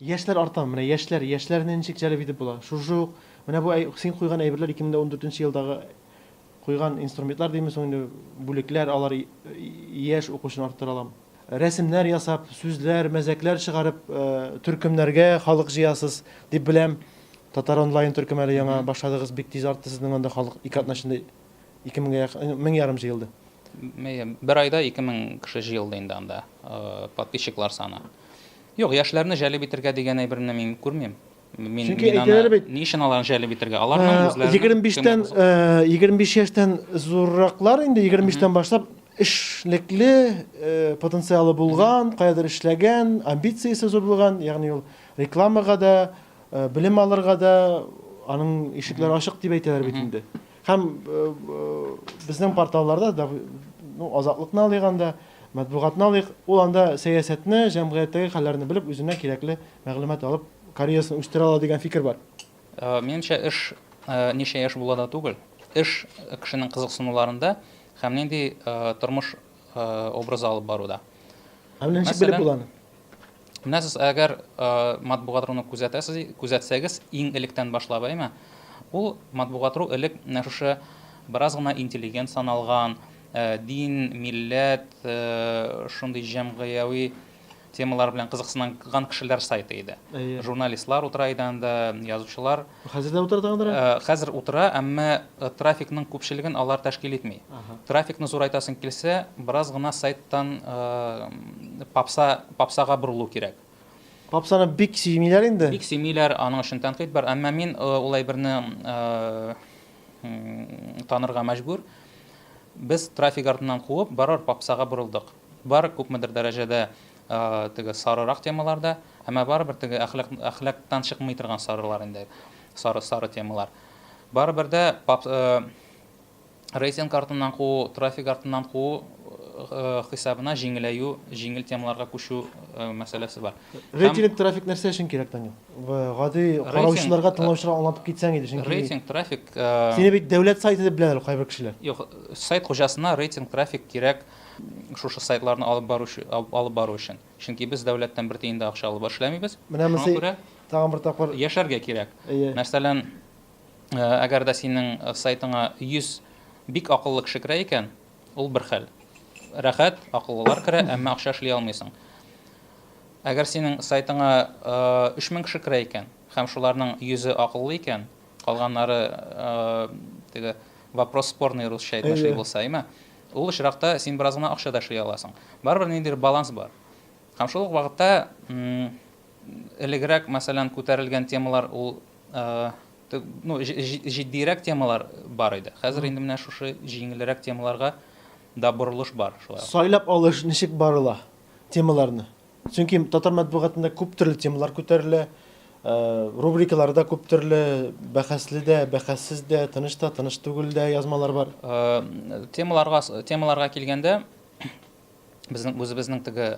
Яшьләр арта, менә яшьләр, яшьләрне ничек җәлеп итеп була? Шушы ук, менә бу әй, син куйган әйберләр, ике мең дә ундүртенче ел дагы куйган инструментлар димме соң инде, бүлекләр, алар и, и, яшь укучыны арттыра алам. Рәсемнәр ясап, сүзләр, мәзәкләр чыгарып, э, төркемнәргә халык җыясыз, дип беләм. Татар-онлайн төркеме әле яңа башладыгыз, бик тиз артты сезнең анда халык, ике атна эчендә Ике меңгә якын, мең ярым җыелды. Бер айда ике мең кеше җыелды инде анда, подписчиклар саны. Юк, яшьләрне җәлеп итергә дигән әйберне мин күрмим. Мин, Чөнки мин әйтәләр бит. Ни өчен аларны җәлеп итергә? Аларның үзләренең 25-тән 25 яшьтән зурраклар инде 25-тән башлап эшлекле потенциалы булган, каядыр эшләгән, амбициясе зур булган, ягъни ул рекламага да, белем алырга да аның ишекләре ачык дип әйтәләр бит инде. Һәм безнең порталларда да, ну, Азатлыкны алыйк анда, матбугатны алыйк, ул анда сәясәтне, җәмгыятьтәге хәлләрне белеп, үзенә кирәкле мәгълүмат алып, карьерасын үстерә ала дигән фикер бар. Минемчә, эш ничә яшь була да түгел. Эш кешенең кызыксынуларында һәм нинди тормыш образы алып баруда. Һәм ничек белеп була аны? Менә сез әгәр матбугатрыны күзәтәсез, күзәтсәгез, иң электән башлап, әйме? Ул матбугатру элек менә шушы бераз гына интеллигент саналган, дин, милләт, шундый җәмгыяви темалар белән кызыксынган кешеләр сайты иде. Журналистлар утыра иде анда, язучылар. Хәзер дә утыра тагын берәү? Хәзер утыра, әмма трафикның күпчелеген алар тәшкил итми. Трафикны зурайтасың килсә, бераз гына сайттан попса, попсага борылу кирәк. Попсаны бик сөймиләр инде. Бик сөймиләр, аның өчен тәнкыйть бар, әмма мин улай берне танырга мәҗбүр. Без трафик артыннан куып, барыбер попсага борылдык. Бар, күпмедер дәрәҗәдә теге сарырак темалар да, әмма барыбер теге әхлак, әхлактан чыкмый торган сарылар инде, сары, сары темалар. Барыбер дә пап, рейтинг артыннан куу, трафик артыннан куу хисабына җиңеләю, җиңел темаларга күчү мәсьәләсе бар. Рейтинг, трафик нәрсә өчен кирәк, Данил? Гади караучыларга, тыңлаучыларга аңлатып китсәң иде, чөнки. Рейтинг, трафик. Сине бит дәүләт сайты дип беләләр кайбер кешеләр. Юк, сайт хуҗасына рейтинг, трафик кирәк. шушы сайтларны алып бару алып бару өчен. Чөнки без дәүләттән бер тиен дә акча алып эшләмибез. Менә мосы тагын бер тапкыр яшәргә кирәк. Мәсәлән, әгәр дә синең сайтыңа 100 бик акыллы кеше керә икән, ул бер хәл. Рәхәт, акыллылар керә, әмма акча эшли алмыйсың. Әгәр синең сайтыңа 3000 кеше керә икән һәм шуларның 100-е акыллы икән, калганнары теге вопрос спорный русча әйтмешли булса, әйме? Ул очракта син бераз гына акча да эшли аласың. Барыбер ниндидер баланс бар. Һәм шул ук вакытта элегрәк, мәсәлән, күтәрелгән темалар ул ну, җитдиерәк темалар бар иде. Хәзер инде менә шушы җиңелрәк темаларга да борылыш бар шулай. Сайлап алыш ничек барыла темаларны? Чөнки татар матбугатында күп төрле темалар күтәрелә, рубрикалары да күп төрле, бәхәсле дә, бәхәссез дә, тыныч та, тыныч түгел дә язмалар бар. Темаларга, темаларга килгәндә, безнең үзебезнең теге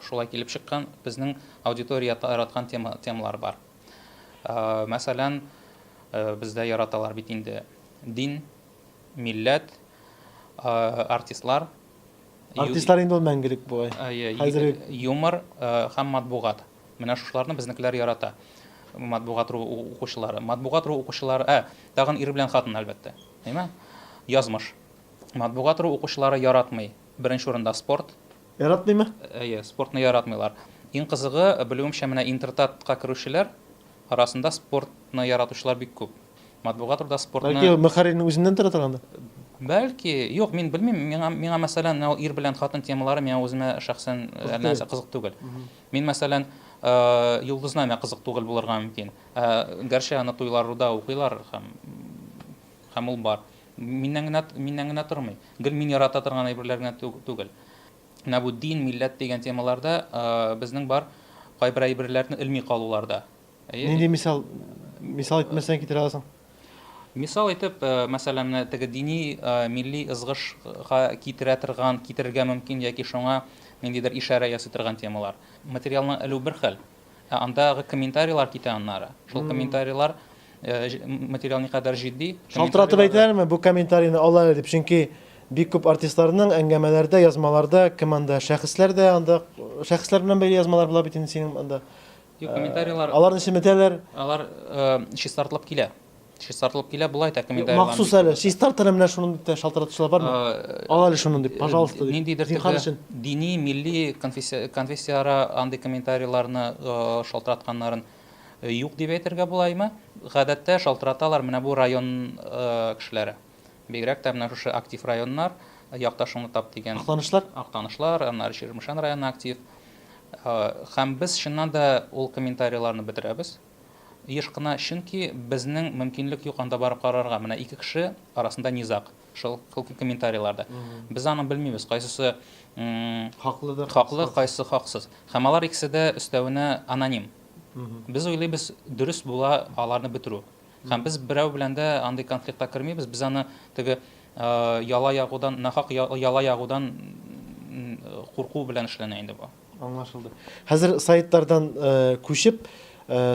шулай килеп чыккан, безнең аудитория яраткан тема, темалар бар. Мәсәлән, бездә яраталар бит инде дин, милләт, артистлар, Артистлар инде ул мәңгелек бугай. Хәзер юмор һәм матбугат. Менә шушыларны безнекеләр ярата. Матбугат ру укучылары. Матбугат ру укучылары, ә, тагын ир белән хатын, әлбәттә. Әйме? Язмыш. Матбугат ру укучылары яратмый. Беренче урында спорт. Яратмыймы? Әйе, спортны яратмыйлар. Иң кызыгы, белүемчә, менә Интертатка керүчеләр арасында спортны яратучылар бик күп. Матбугат турында спортны... Бәлки мөхәррирнең үзеннән тора торгандыр? Бәлки, юк, мин белмим, миңа, миңа мәсәлән, менә ир белән хатын темалары миңа үземә шәхсән э, нәрсә кызык түгел. Мин мәсәлән, э, йолдызна миңа кызык түгел булырга мөмкин. Ә гәрчә аны туйларда укыйлар һәм һәм ул бар. Миннән генә миннән генә тормый. Гел мин ярата торган әйберләр генә түгел. Менә бу дин, милләт дигән темаларда э, безнең бар кайбер әйберләрне элми калуларда. Нинди мисал мисал итмәсәң китерә аласың? Мисал итеп, э, мәсәлән, менә теге дини э, милли ызгышка китерә торган, китерергә мөмкин яки шуңа ниндидер ишарә ясый торган темалар. Материалны элү бер хәл, ә андагы комментарийлар китә аннары. Шул комментарийлар э, ж- м- материал никадәр җитди. Шалтыратып комментарийлар- әйтәләрме бу комментарийны алар әле дип? Чөнки бик күп артистларның әңгәмәләрдә, язмаларда кем анда шәхесләр дә анда шәхесләр белән бәйле язмалар була бит инде синең анда Юк, комментарийлар... Аларны чеметәләр. Алар чистартылып килә. Чистартылып килә, болай да комментарийлар. Махсус әле, чистартыры менә шуны дип тә шалтыратучылар бармы? Ал әле шуны дип, пожалуйста. Ниндидер төрле дини, милли конфессияара андый комментарийларны шалтыратканнарын юк дип әйтергә булаймы? Гадәттә шалтыраталар менә бу район кешеләре. Бигрәк тә менә шушы актив районнар, якташыңны тап дигән. Актанышлар? Актанышлар, аннары Чирмешән районы актив. Һәм без чыннан да ул комментарийларны бетерәбез. Еш кына, чөнки безнең мөмкинлек юк анда барып карарга. Менә ике кеше арасында низаг шул комментарийларда. Без аны белмибез, кайсысы хаклыдыр, хаклы, кайсысы хаксыз. Һәм алар икесе дә өстәвенә аноним. Без уйлыйбыз, дөрес була аларны бетерү. Һәм без берәү белән дә андый конфликтка кермибез, без аны теге яла ягудан, нахак яла ягудан курку белән эшләнә инде бу. Аңлашылды. Хәзер сайтлардан күчеп,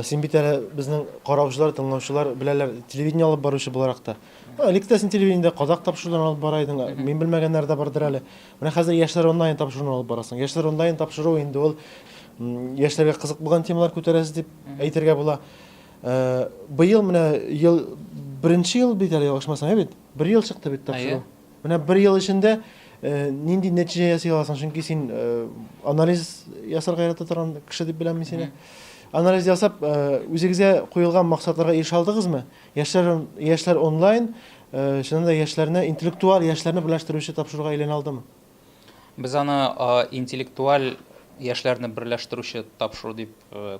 син бит әле безнең караучылар, тыңлаучылар беләләр, телевидение алып баручы буларак та. Элек тә син телевидениедә казак тапшыруларын алып бара идең, мин белмәгәннәр дә бардыр әле. Менә хәзер яшьләр онлайн тапшыруын алып барасың. Яшьләр онлайн тапшыру инде ул яшьләргә кызык булган темалар күтәрәсез дип әйтергә була. Быел менә ел беренче ел бит әле ошмасаң ә бит. Бер ел чыкты бит тапшыру. Менә бер ел эчендә нинди нәтиҗә ясый аласың? Чөнки син анализ ясарга ярата торган кеше дип беләм мин сине. Анализ ясап, үзегезгә куелган максатларга ирешә алдыгызмы? Яшьләр яшьләр онлайн, чыннан да яшьләрне, интеллектуаль яшьләрне берләштерүче тапшыруга әйләнә алдымы? Без аны интеллектуаль яшьләрне берләштерүче тапшыру дип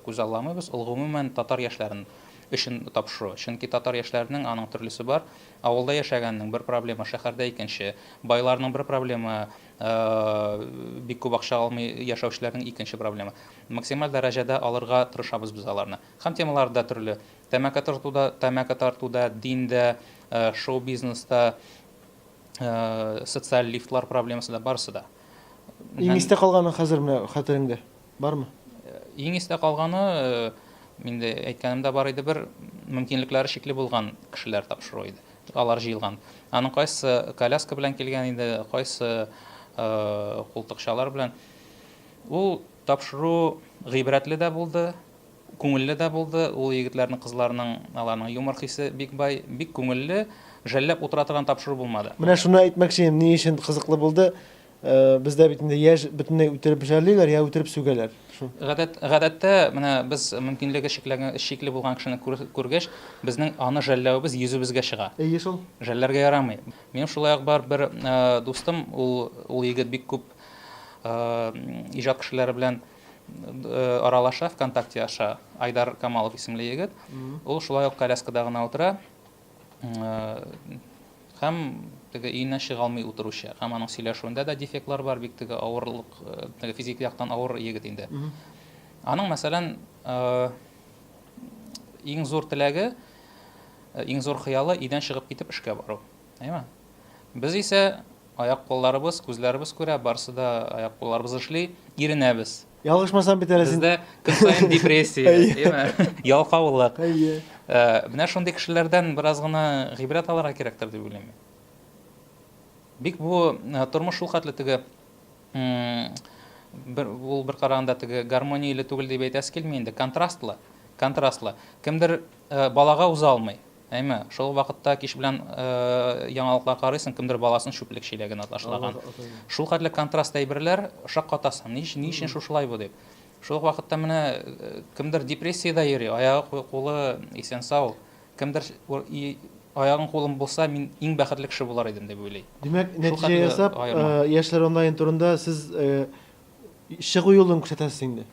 күзалламыйбыз. Ул гомумән татар яшьләрен өчен тапшыру. Чөнки татар яшьләренең аның төрлесе бар. Авылда яшәгәннең бер проблема, шәһәрдә икенче. Байларның бер проблема, бик күп акча алмый яшәүчеләрнең икенче проблема. Максималь дәрәҗәдә алырга тырышабыз без аларны. Һәм темалар да төрле. Тәмәке тартуда, тәмәке тартуда, диндә, шоу-бизнеста, э, социаль лифтлар проблемасы да барысы да иң истә калганы хәзер менә хәтереңдә бармы э, иң истә калганы э, инде әйткәнемдә бар иде бер мөмкинлекләре чикле булган кешеләр тапшыру иде алар җыелган аның кайсы коляска белән килгән иде кайсы култыкчалар белән ул тапшыру гыйбрәтле дә булды Күңелле дә булды ул егетләрнең, кызларның, аларның юмор хисе бик бай, бик күңелле, жәлләп утыра торган тапшыру булмады. Менә шуны әйтмәкче идем, ни өчен кызыклы булды, бездә бит инде яшь бөтенләй үтереп жәллиләр, я үтереп сүгәләр, шул. Гадәт, гадәттә, менә без мөмкинлеге чикләнгән, чикле булган кешене күргәч, безнең аны жәлләвебез йөзебезгә чыга. Әйе шул. Жәлләргә ярамый. Минем шулай ук бар бер дустым, ул, ул егет бик күп иҗат кешеләре белән. Аралаша ВКонтакте аша Айдар Камалов исемле егет. Ул шулай ук коляскада гына утыра. Һәм теге өеннән чыга алмый утыручы. Һәм аның сөйләшүендә дә дефектлар бар, бик теге авырлык, теге физик яктан авыр егет инде. Аның, мәсәлән, иң зур теләге, иң зур хыялы өйдән чыгып китеп эшкә бару. Әйме? Без исә аяк-кулларыбыз, күзләребез күрә, барысы да аяк-кулларыбыз эшли, иренәбез. Ялгышмасам бит әле син. Бездә көн саен депрессия, әйме? Ялкаулык. Әйе. Э, менә шундый кешеләрдән бераз гына гыйбрәт алырга кирәктер дип уйлыйм. Бик бу э, тормыш шул хәтле теге бер ул бер караганда теге гармонияле түгел дип әйтәсе килми инде, контрастлы, контрастлы. Кемдер э, балага уза алмый, Әйме, шул вакытта кич белән яңалыклар карыйсың, кемдер баласын чүплек чиләгенә ташлаган. Шул хәтле контраст әйберләр, шаккатасың, ни, ни өчен шушылай бу дип. Шул ук вакытта менә кемдер депрессиядә йөри, аягы, кулы исән сау, кемдер аягың кулың булса, мин иң бәхетле кеше булар идем дип уйлый. Димәк, нәтиҗә ясап, Яшьләр онлайн турында сез чыгу юлын күрсәтәсез инде.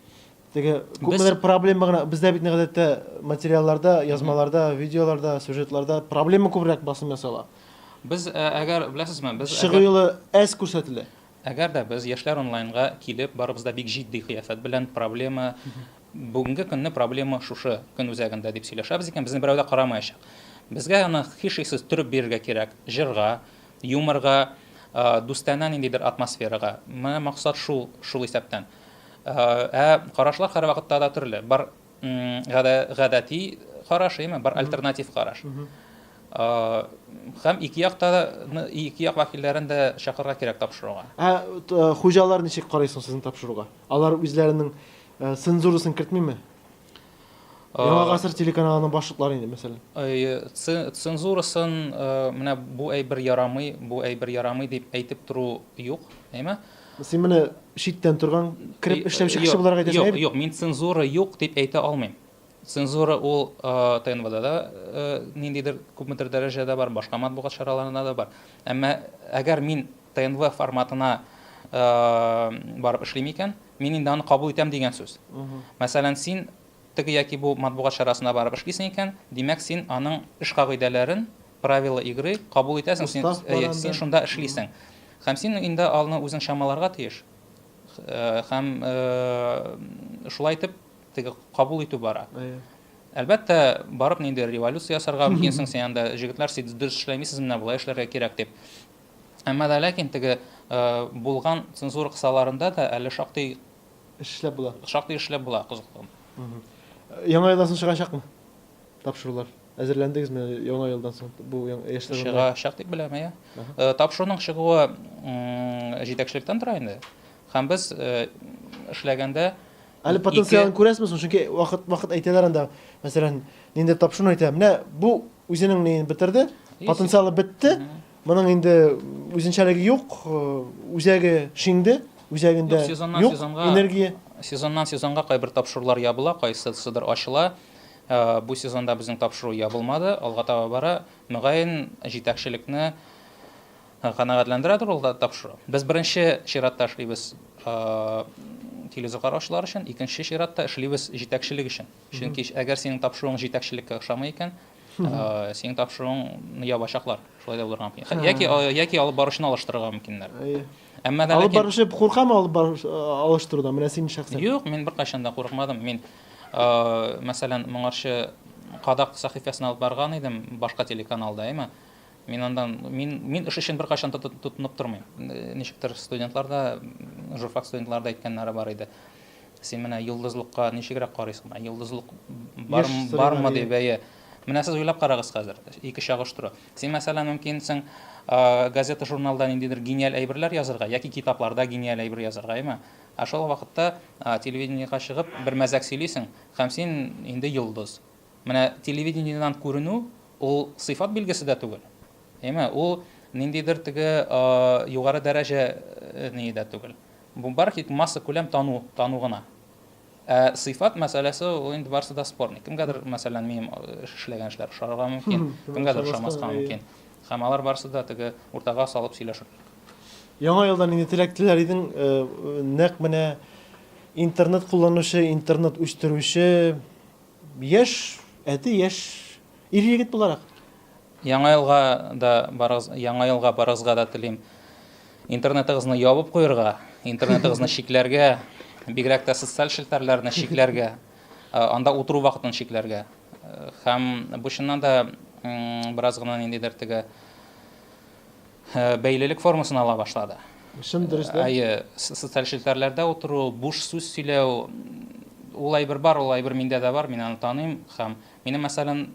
Теге күпмедер проблема гына бездә бит гадәттә материалларда, язмаларда, видеоларда, сюжетларда проблема күбрәк басым ясала. Без э, әгәр беләсезме, без чыгу юлы әз күрсәтелә. Әгәр дә без яшьләр онлайнга килеп барыбыз да бик җитди кыяфәт белән проблема бүгенге көнне проблема шушы көн үзәгендә дип сөйләшәбез икән, безне берәү дә карамаячак. Безгә аны хишиксез төреп бирергә кирәк. Җырга, юморга, э, дустанә ниндидер атмосферага. Менә максат шул, шул исәптән. Ә карашлар һәрвакытта да төрле. Бар гадәти караш, яме бар альтернатив караш. Хәм ике якта да ике як вәкилләрен дә чакырырга кирәк тапшыруга. Ә хуҗалар ничек карыйсың сезнең тапшыруга? Алар үзләренең цензурасын кертмиме? Яңа э, гасыр телеканалының башлыклары инде, мәсәлән. Э, цензурасын э, менә бу әйбер ярамый, бу әйбер ярамый дип әйтеп тору юк, әйме? Син менә читтән торган крип эшләүче кеше буларак әйтәсең. Юк, юк, мин цензура юк дип әйтә алмыйм. Цензура ул ТНВда да ниндидер күпмедер дәрәҗәдә бар, башка матбугат чараларында да бар. Әмма әгәр мин ТНВ форматына барып эшлим икән, мин инде аны кабул итәм дигән сүз. Мәсәлән, син теге яки бу матбугат чарасына барып эшлисең икән, димәк, син аның эш кагыйдәләрен, правила игры кабул итәсең, син, әйе, син шунда эшлисең. Һәм син инде алны үзең чамаларга тиеш. Э, һәм э, шулай итеп теге кабул итү бара. Әлбәттә, барып нинди революция ясарга мөмкинсең, син анда җегетләр сез дөрес эшләмисез, менә болай эшләргә кирәк дип. Әмма дә ләкин теге булган цензура кысаларында да әле шактый эшләп була. Шактый эшләп була кызыклы. Яңа елдан соң чыгачакмы? Тапшырулар. Әзерләндегезме яңа елдан соң бу яшьләр? Чыгачак дип беләм, әйе. Тапшыруның чыгуы җитәкчелектән тора инде. Һәм без эшләгәндә Әле потенциалын күрәсезме соң? Чөнки вакыт вакыт әйтәләр анда, мәсәлән, нинди тапшыруны әйтә. Менә бу үзенең неен бетерде, потенциалы бетте, Моның инде үзенчәлеге юк, үзәге Шинде, үзәгендә Юк, сезоннан юк сезонга- энергия. Сезоннан сезонга кайбер тапшырулар ябыла, кайсысыдыр ачыла. Э, Бу сезонда безнең тапшыру ябылмады, алга таба бара. Мөгаен, җитәкчелекне э, канәгатьләндерәдер ул да тапшыру. Без беренче чиратта эшлибез э, теледизоклар ачулар өчен, икенче чиратта эшлибез җитәкчелек өчен. Чөнки әгәр синең тапшыруың җитәкчелеккә ошамый икән, Синең тапшыруың ябачаклар. Шулай да булырга мөмкин. Яки яки алып баручыны алыштырырга мөмкиннәр. Әмма да алып баручы куркамы алып баруч алыштырудан? Менә син шәхсән. Юк, мин беркайчан да курыкмадым. Мин мәсәлән, моңарчы кадак сәхифәсен алып барган идем, башка телеканалда, әйме? Мин андан мин мин эш өчен беркайчан тотынып тормыйм. Ничектер студентлар да, журфак студентлары да әйткәннәре бар иде. Син менә йолдызлыкка ничегрәк карыйсың? Менә йолдызлык бар, бармы дип, әйе. Менә сез уйлап карагыз хәзер, ике чагыштыру. Син, мәсәлән, мөмкинсең, газета, журналда ниндидер гениаль әйберләр язырга, яки китапларда гениаль әйбер язырга, әйме? Ә шул вакытта телевидениега чыгып, бер мәзәк сөйлисең, һәм син инде йолдыз. Менә телевидениедән күренү, ул сыйфат билгесе дә түгел. Әйме? Ул ниндидер теге югары дәрәҗә ни дә түгел. Бу барлхик массакүләм тану тану гына. Ә сыйфат мәсьәләсе ул инде барысы да спорный. Кемгәдер, мәсәлән, минем эшләгән эшләр ошарга мөмкин, кемгәдер ошамаска мөмкин. Һәм алар барысы да теге уртага салып сөйләшерлек. Яңа елда нинди теләк теләр идең? Нәкъ менә интернет кулланучы, интернет үстерүче яшь әти, яшь ир-егет буларак. Яңа елга да барыгыз, яңа елга барыгызга да телим. Интернетыгызны ябып куерга, интернетыгызны чикләргә, бигрәк тә социаль челтәрләрне чикләргә, анда утыру вакытын чикләргә. Һәм бу чыннан да бераз гына ниндидер теге бәйлелек формасын ала башлады. Чын дөрес дә. Әйе, социаль челтәрләрдә утыру, буш сүз сөйләү, ул әйбер бар, ул әйбер миндә дә бар, мин аны таныйм һәм минем мәсәлән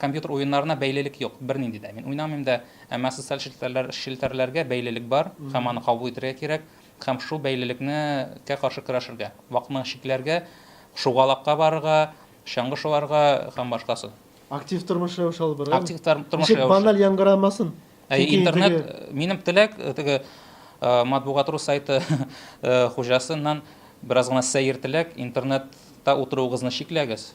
Компьютер уеннарына бәйлелек юк, бернинди дә. Мин уйнамыйм да, әмма социаль челтәрләр, челтәрләргә бәйлелек бар һәм аны кабул итәргә кирәк һәм шул бәйлелекне кә каршы көрәшергә, вакытны чикләргә, шугалакка барырга, чаңгы шуарга һәм башкасы. Актив тормыш рәвеше алып барырга. Актив тор, тормыш Ничек рәвеше. баналь яңгырамасын. Әйе, Чөнки интернет, теге- э, минем теләк, э, теге э, матбугат.ру сайты э, хуҗасыннан бераз гына сәер теләк, интернетта утыруыгызны чикләгез.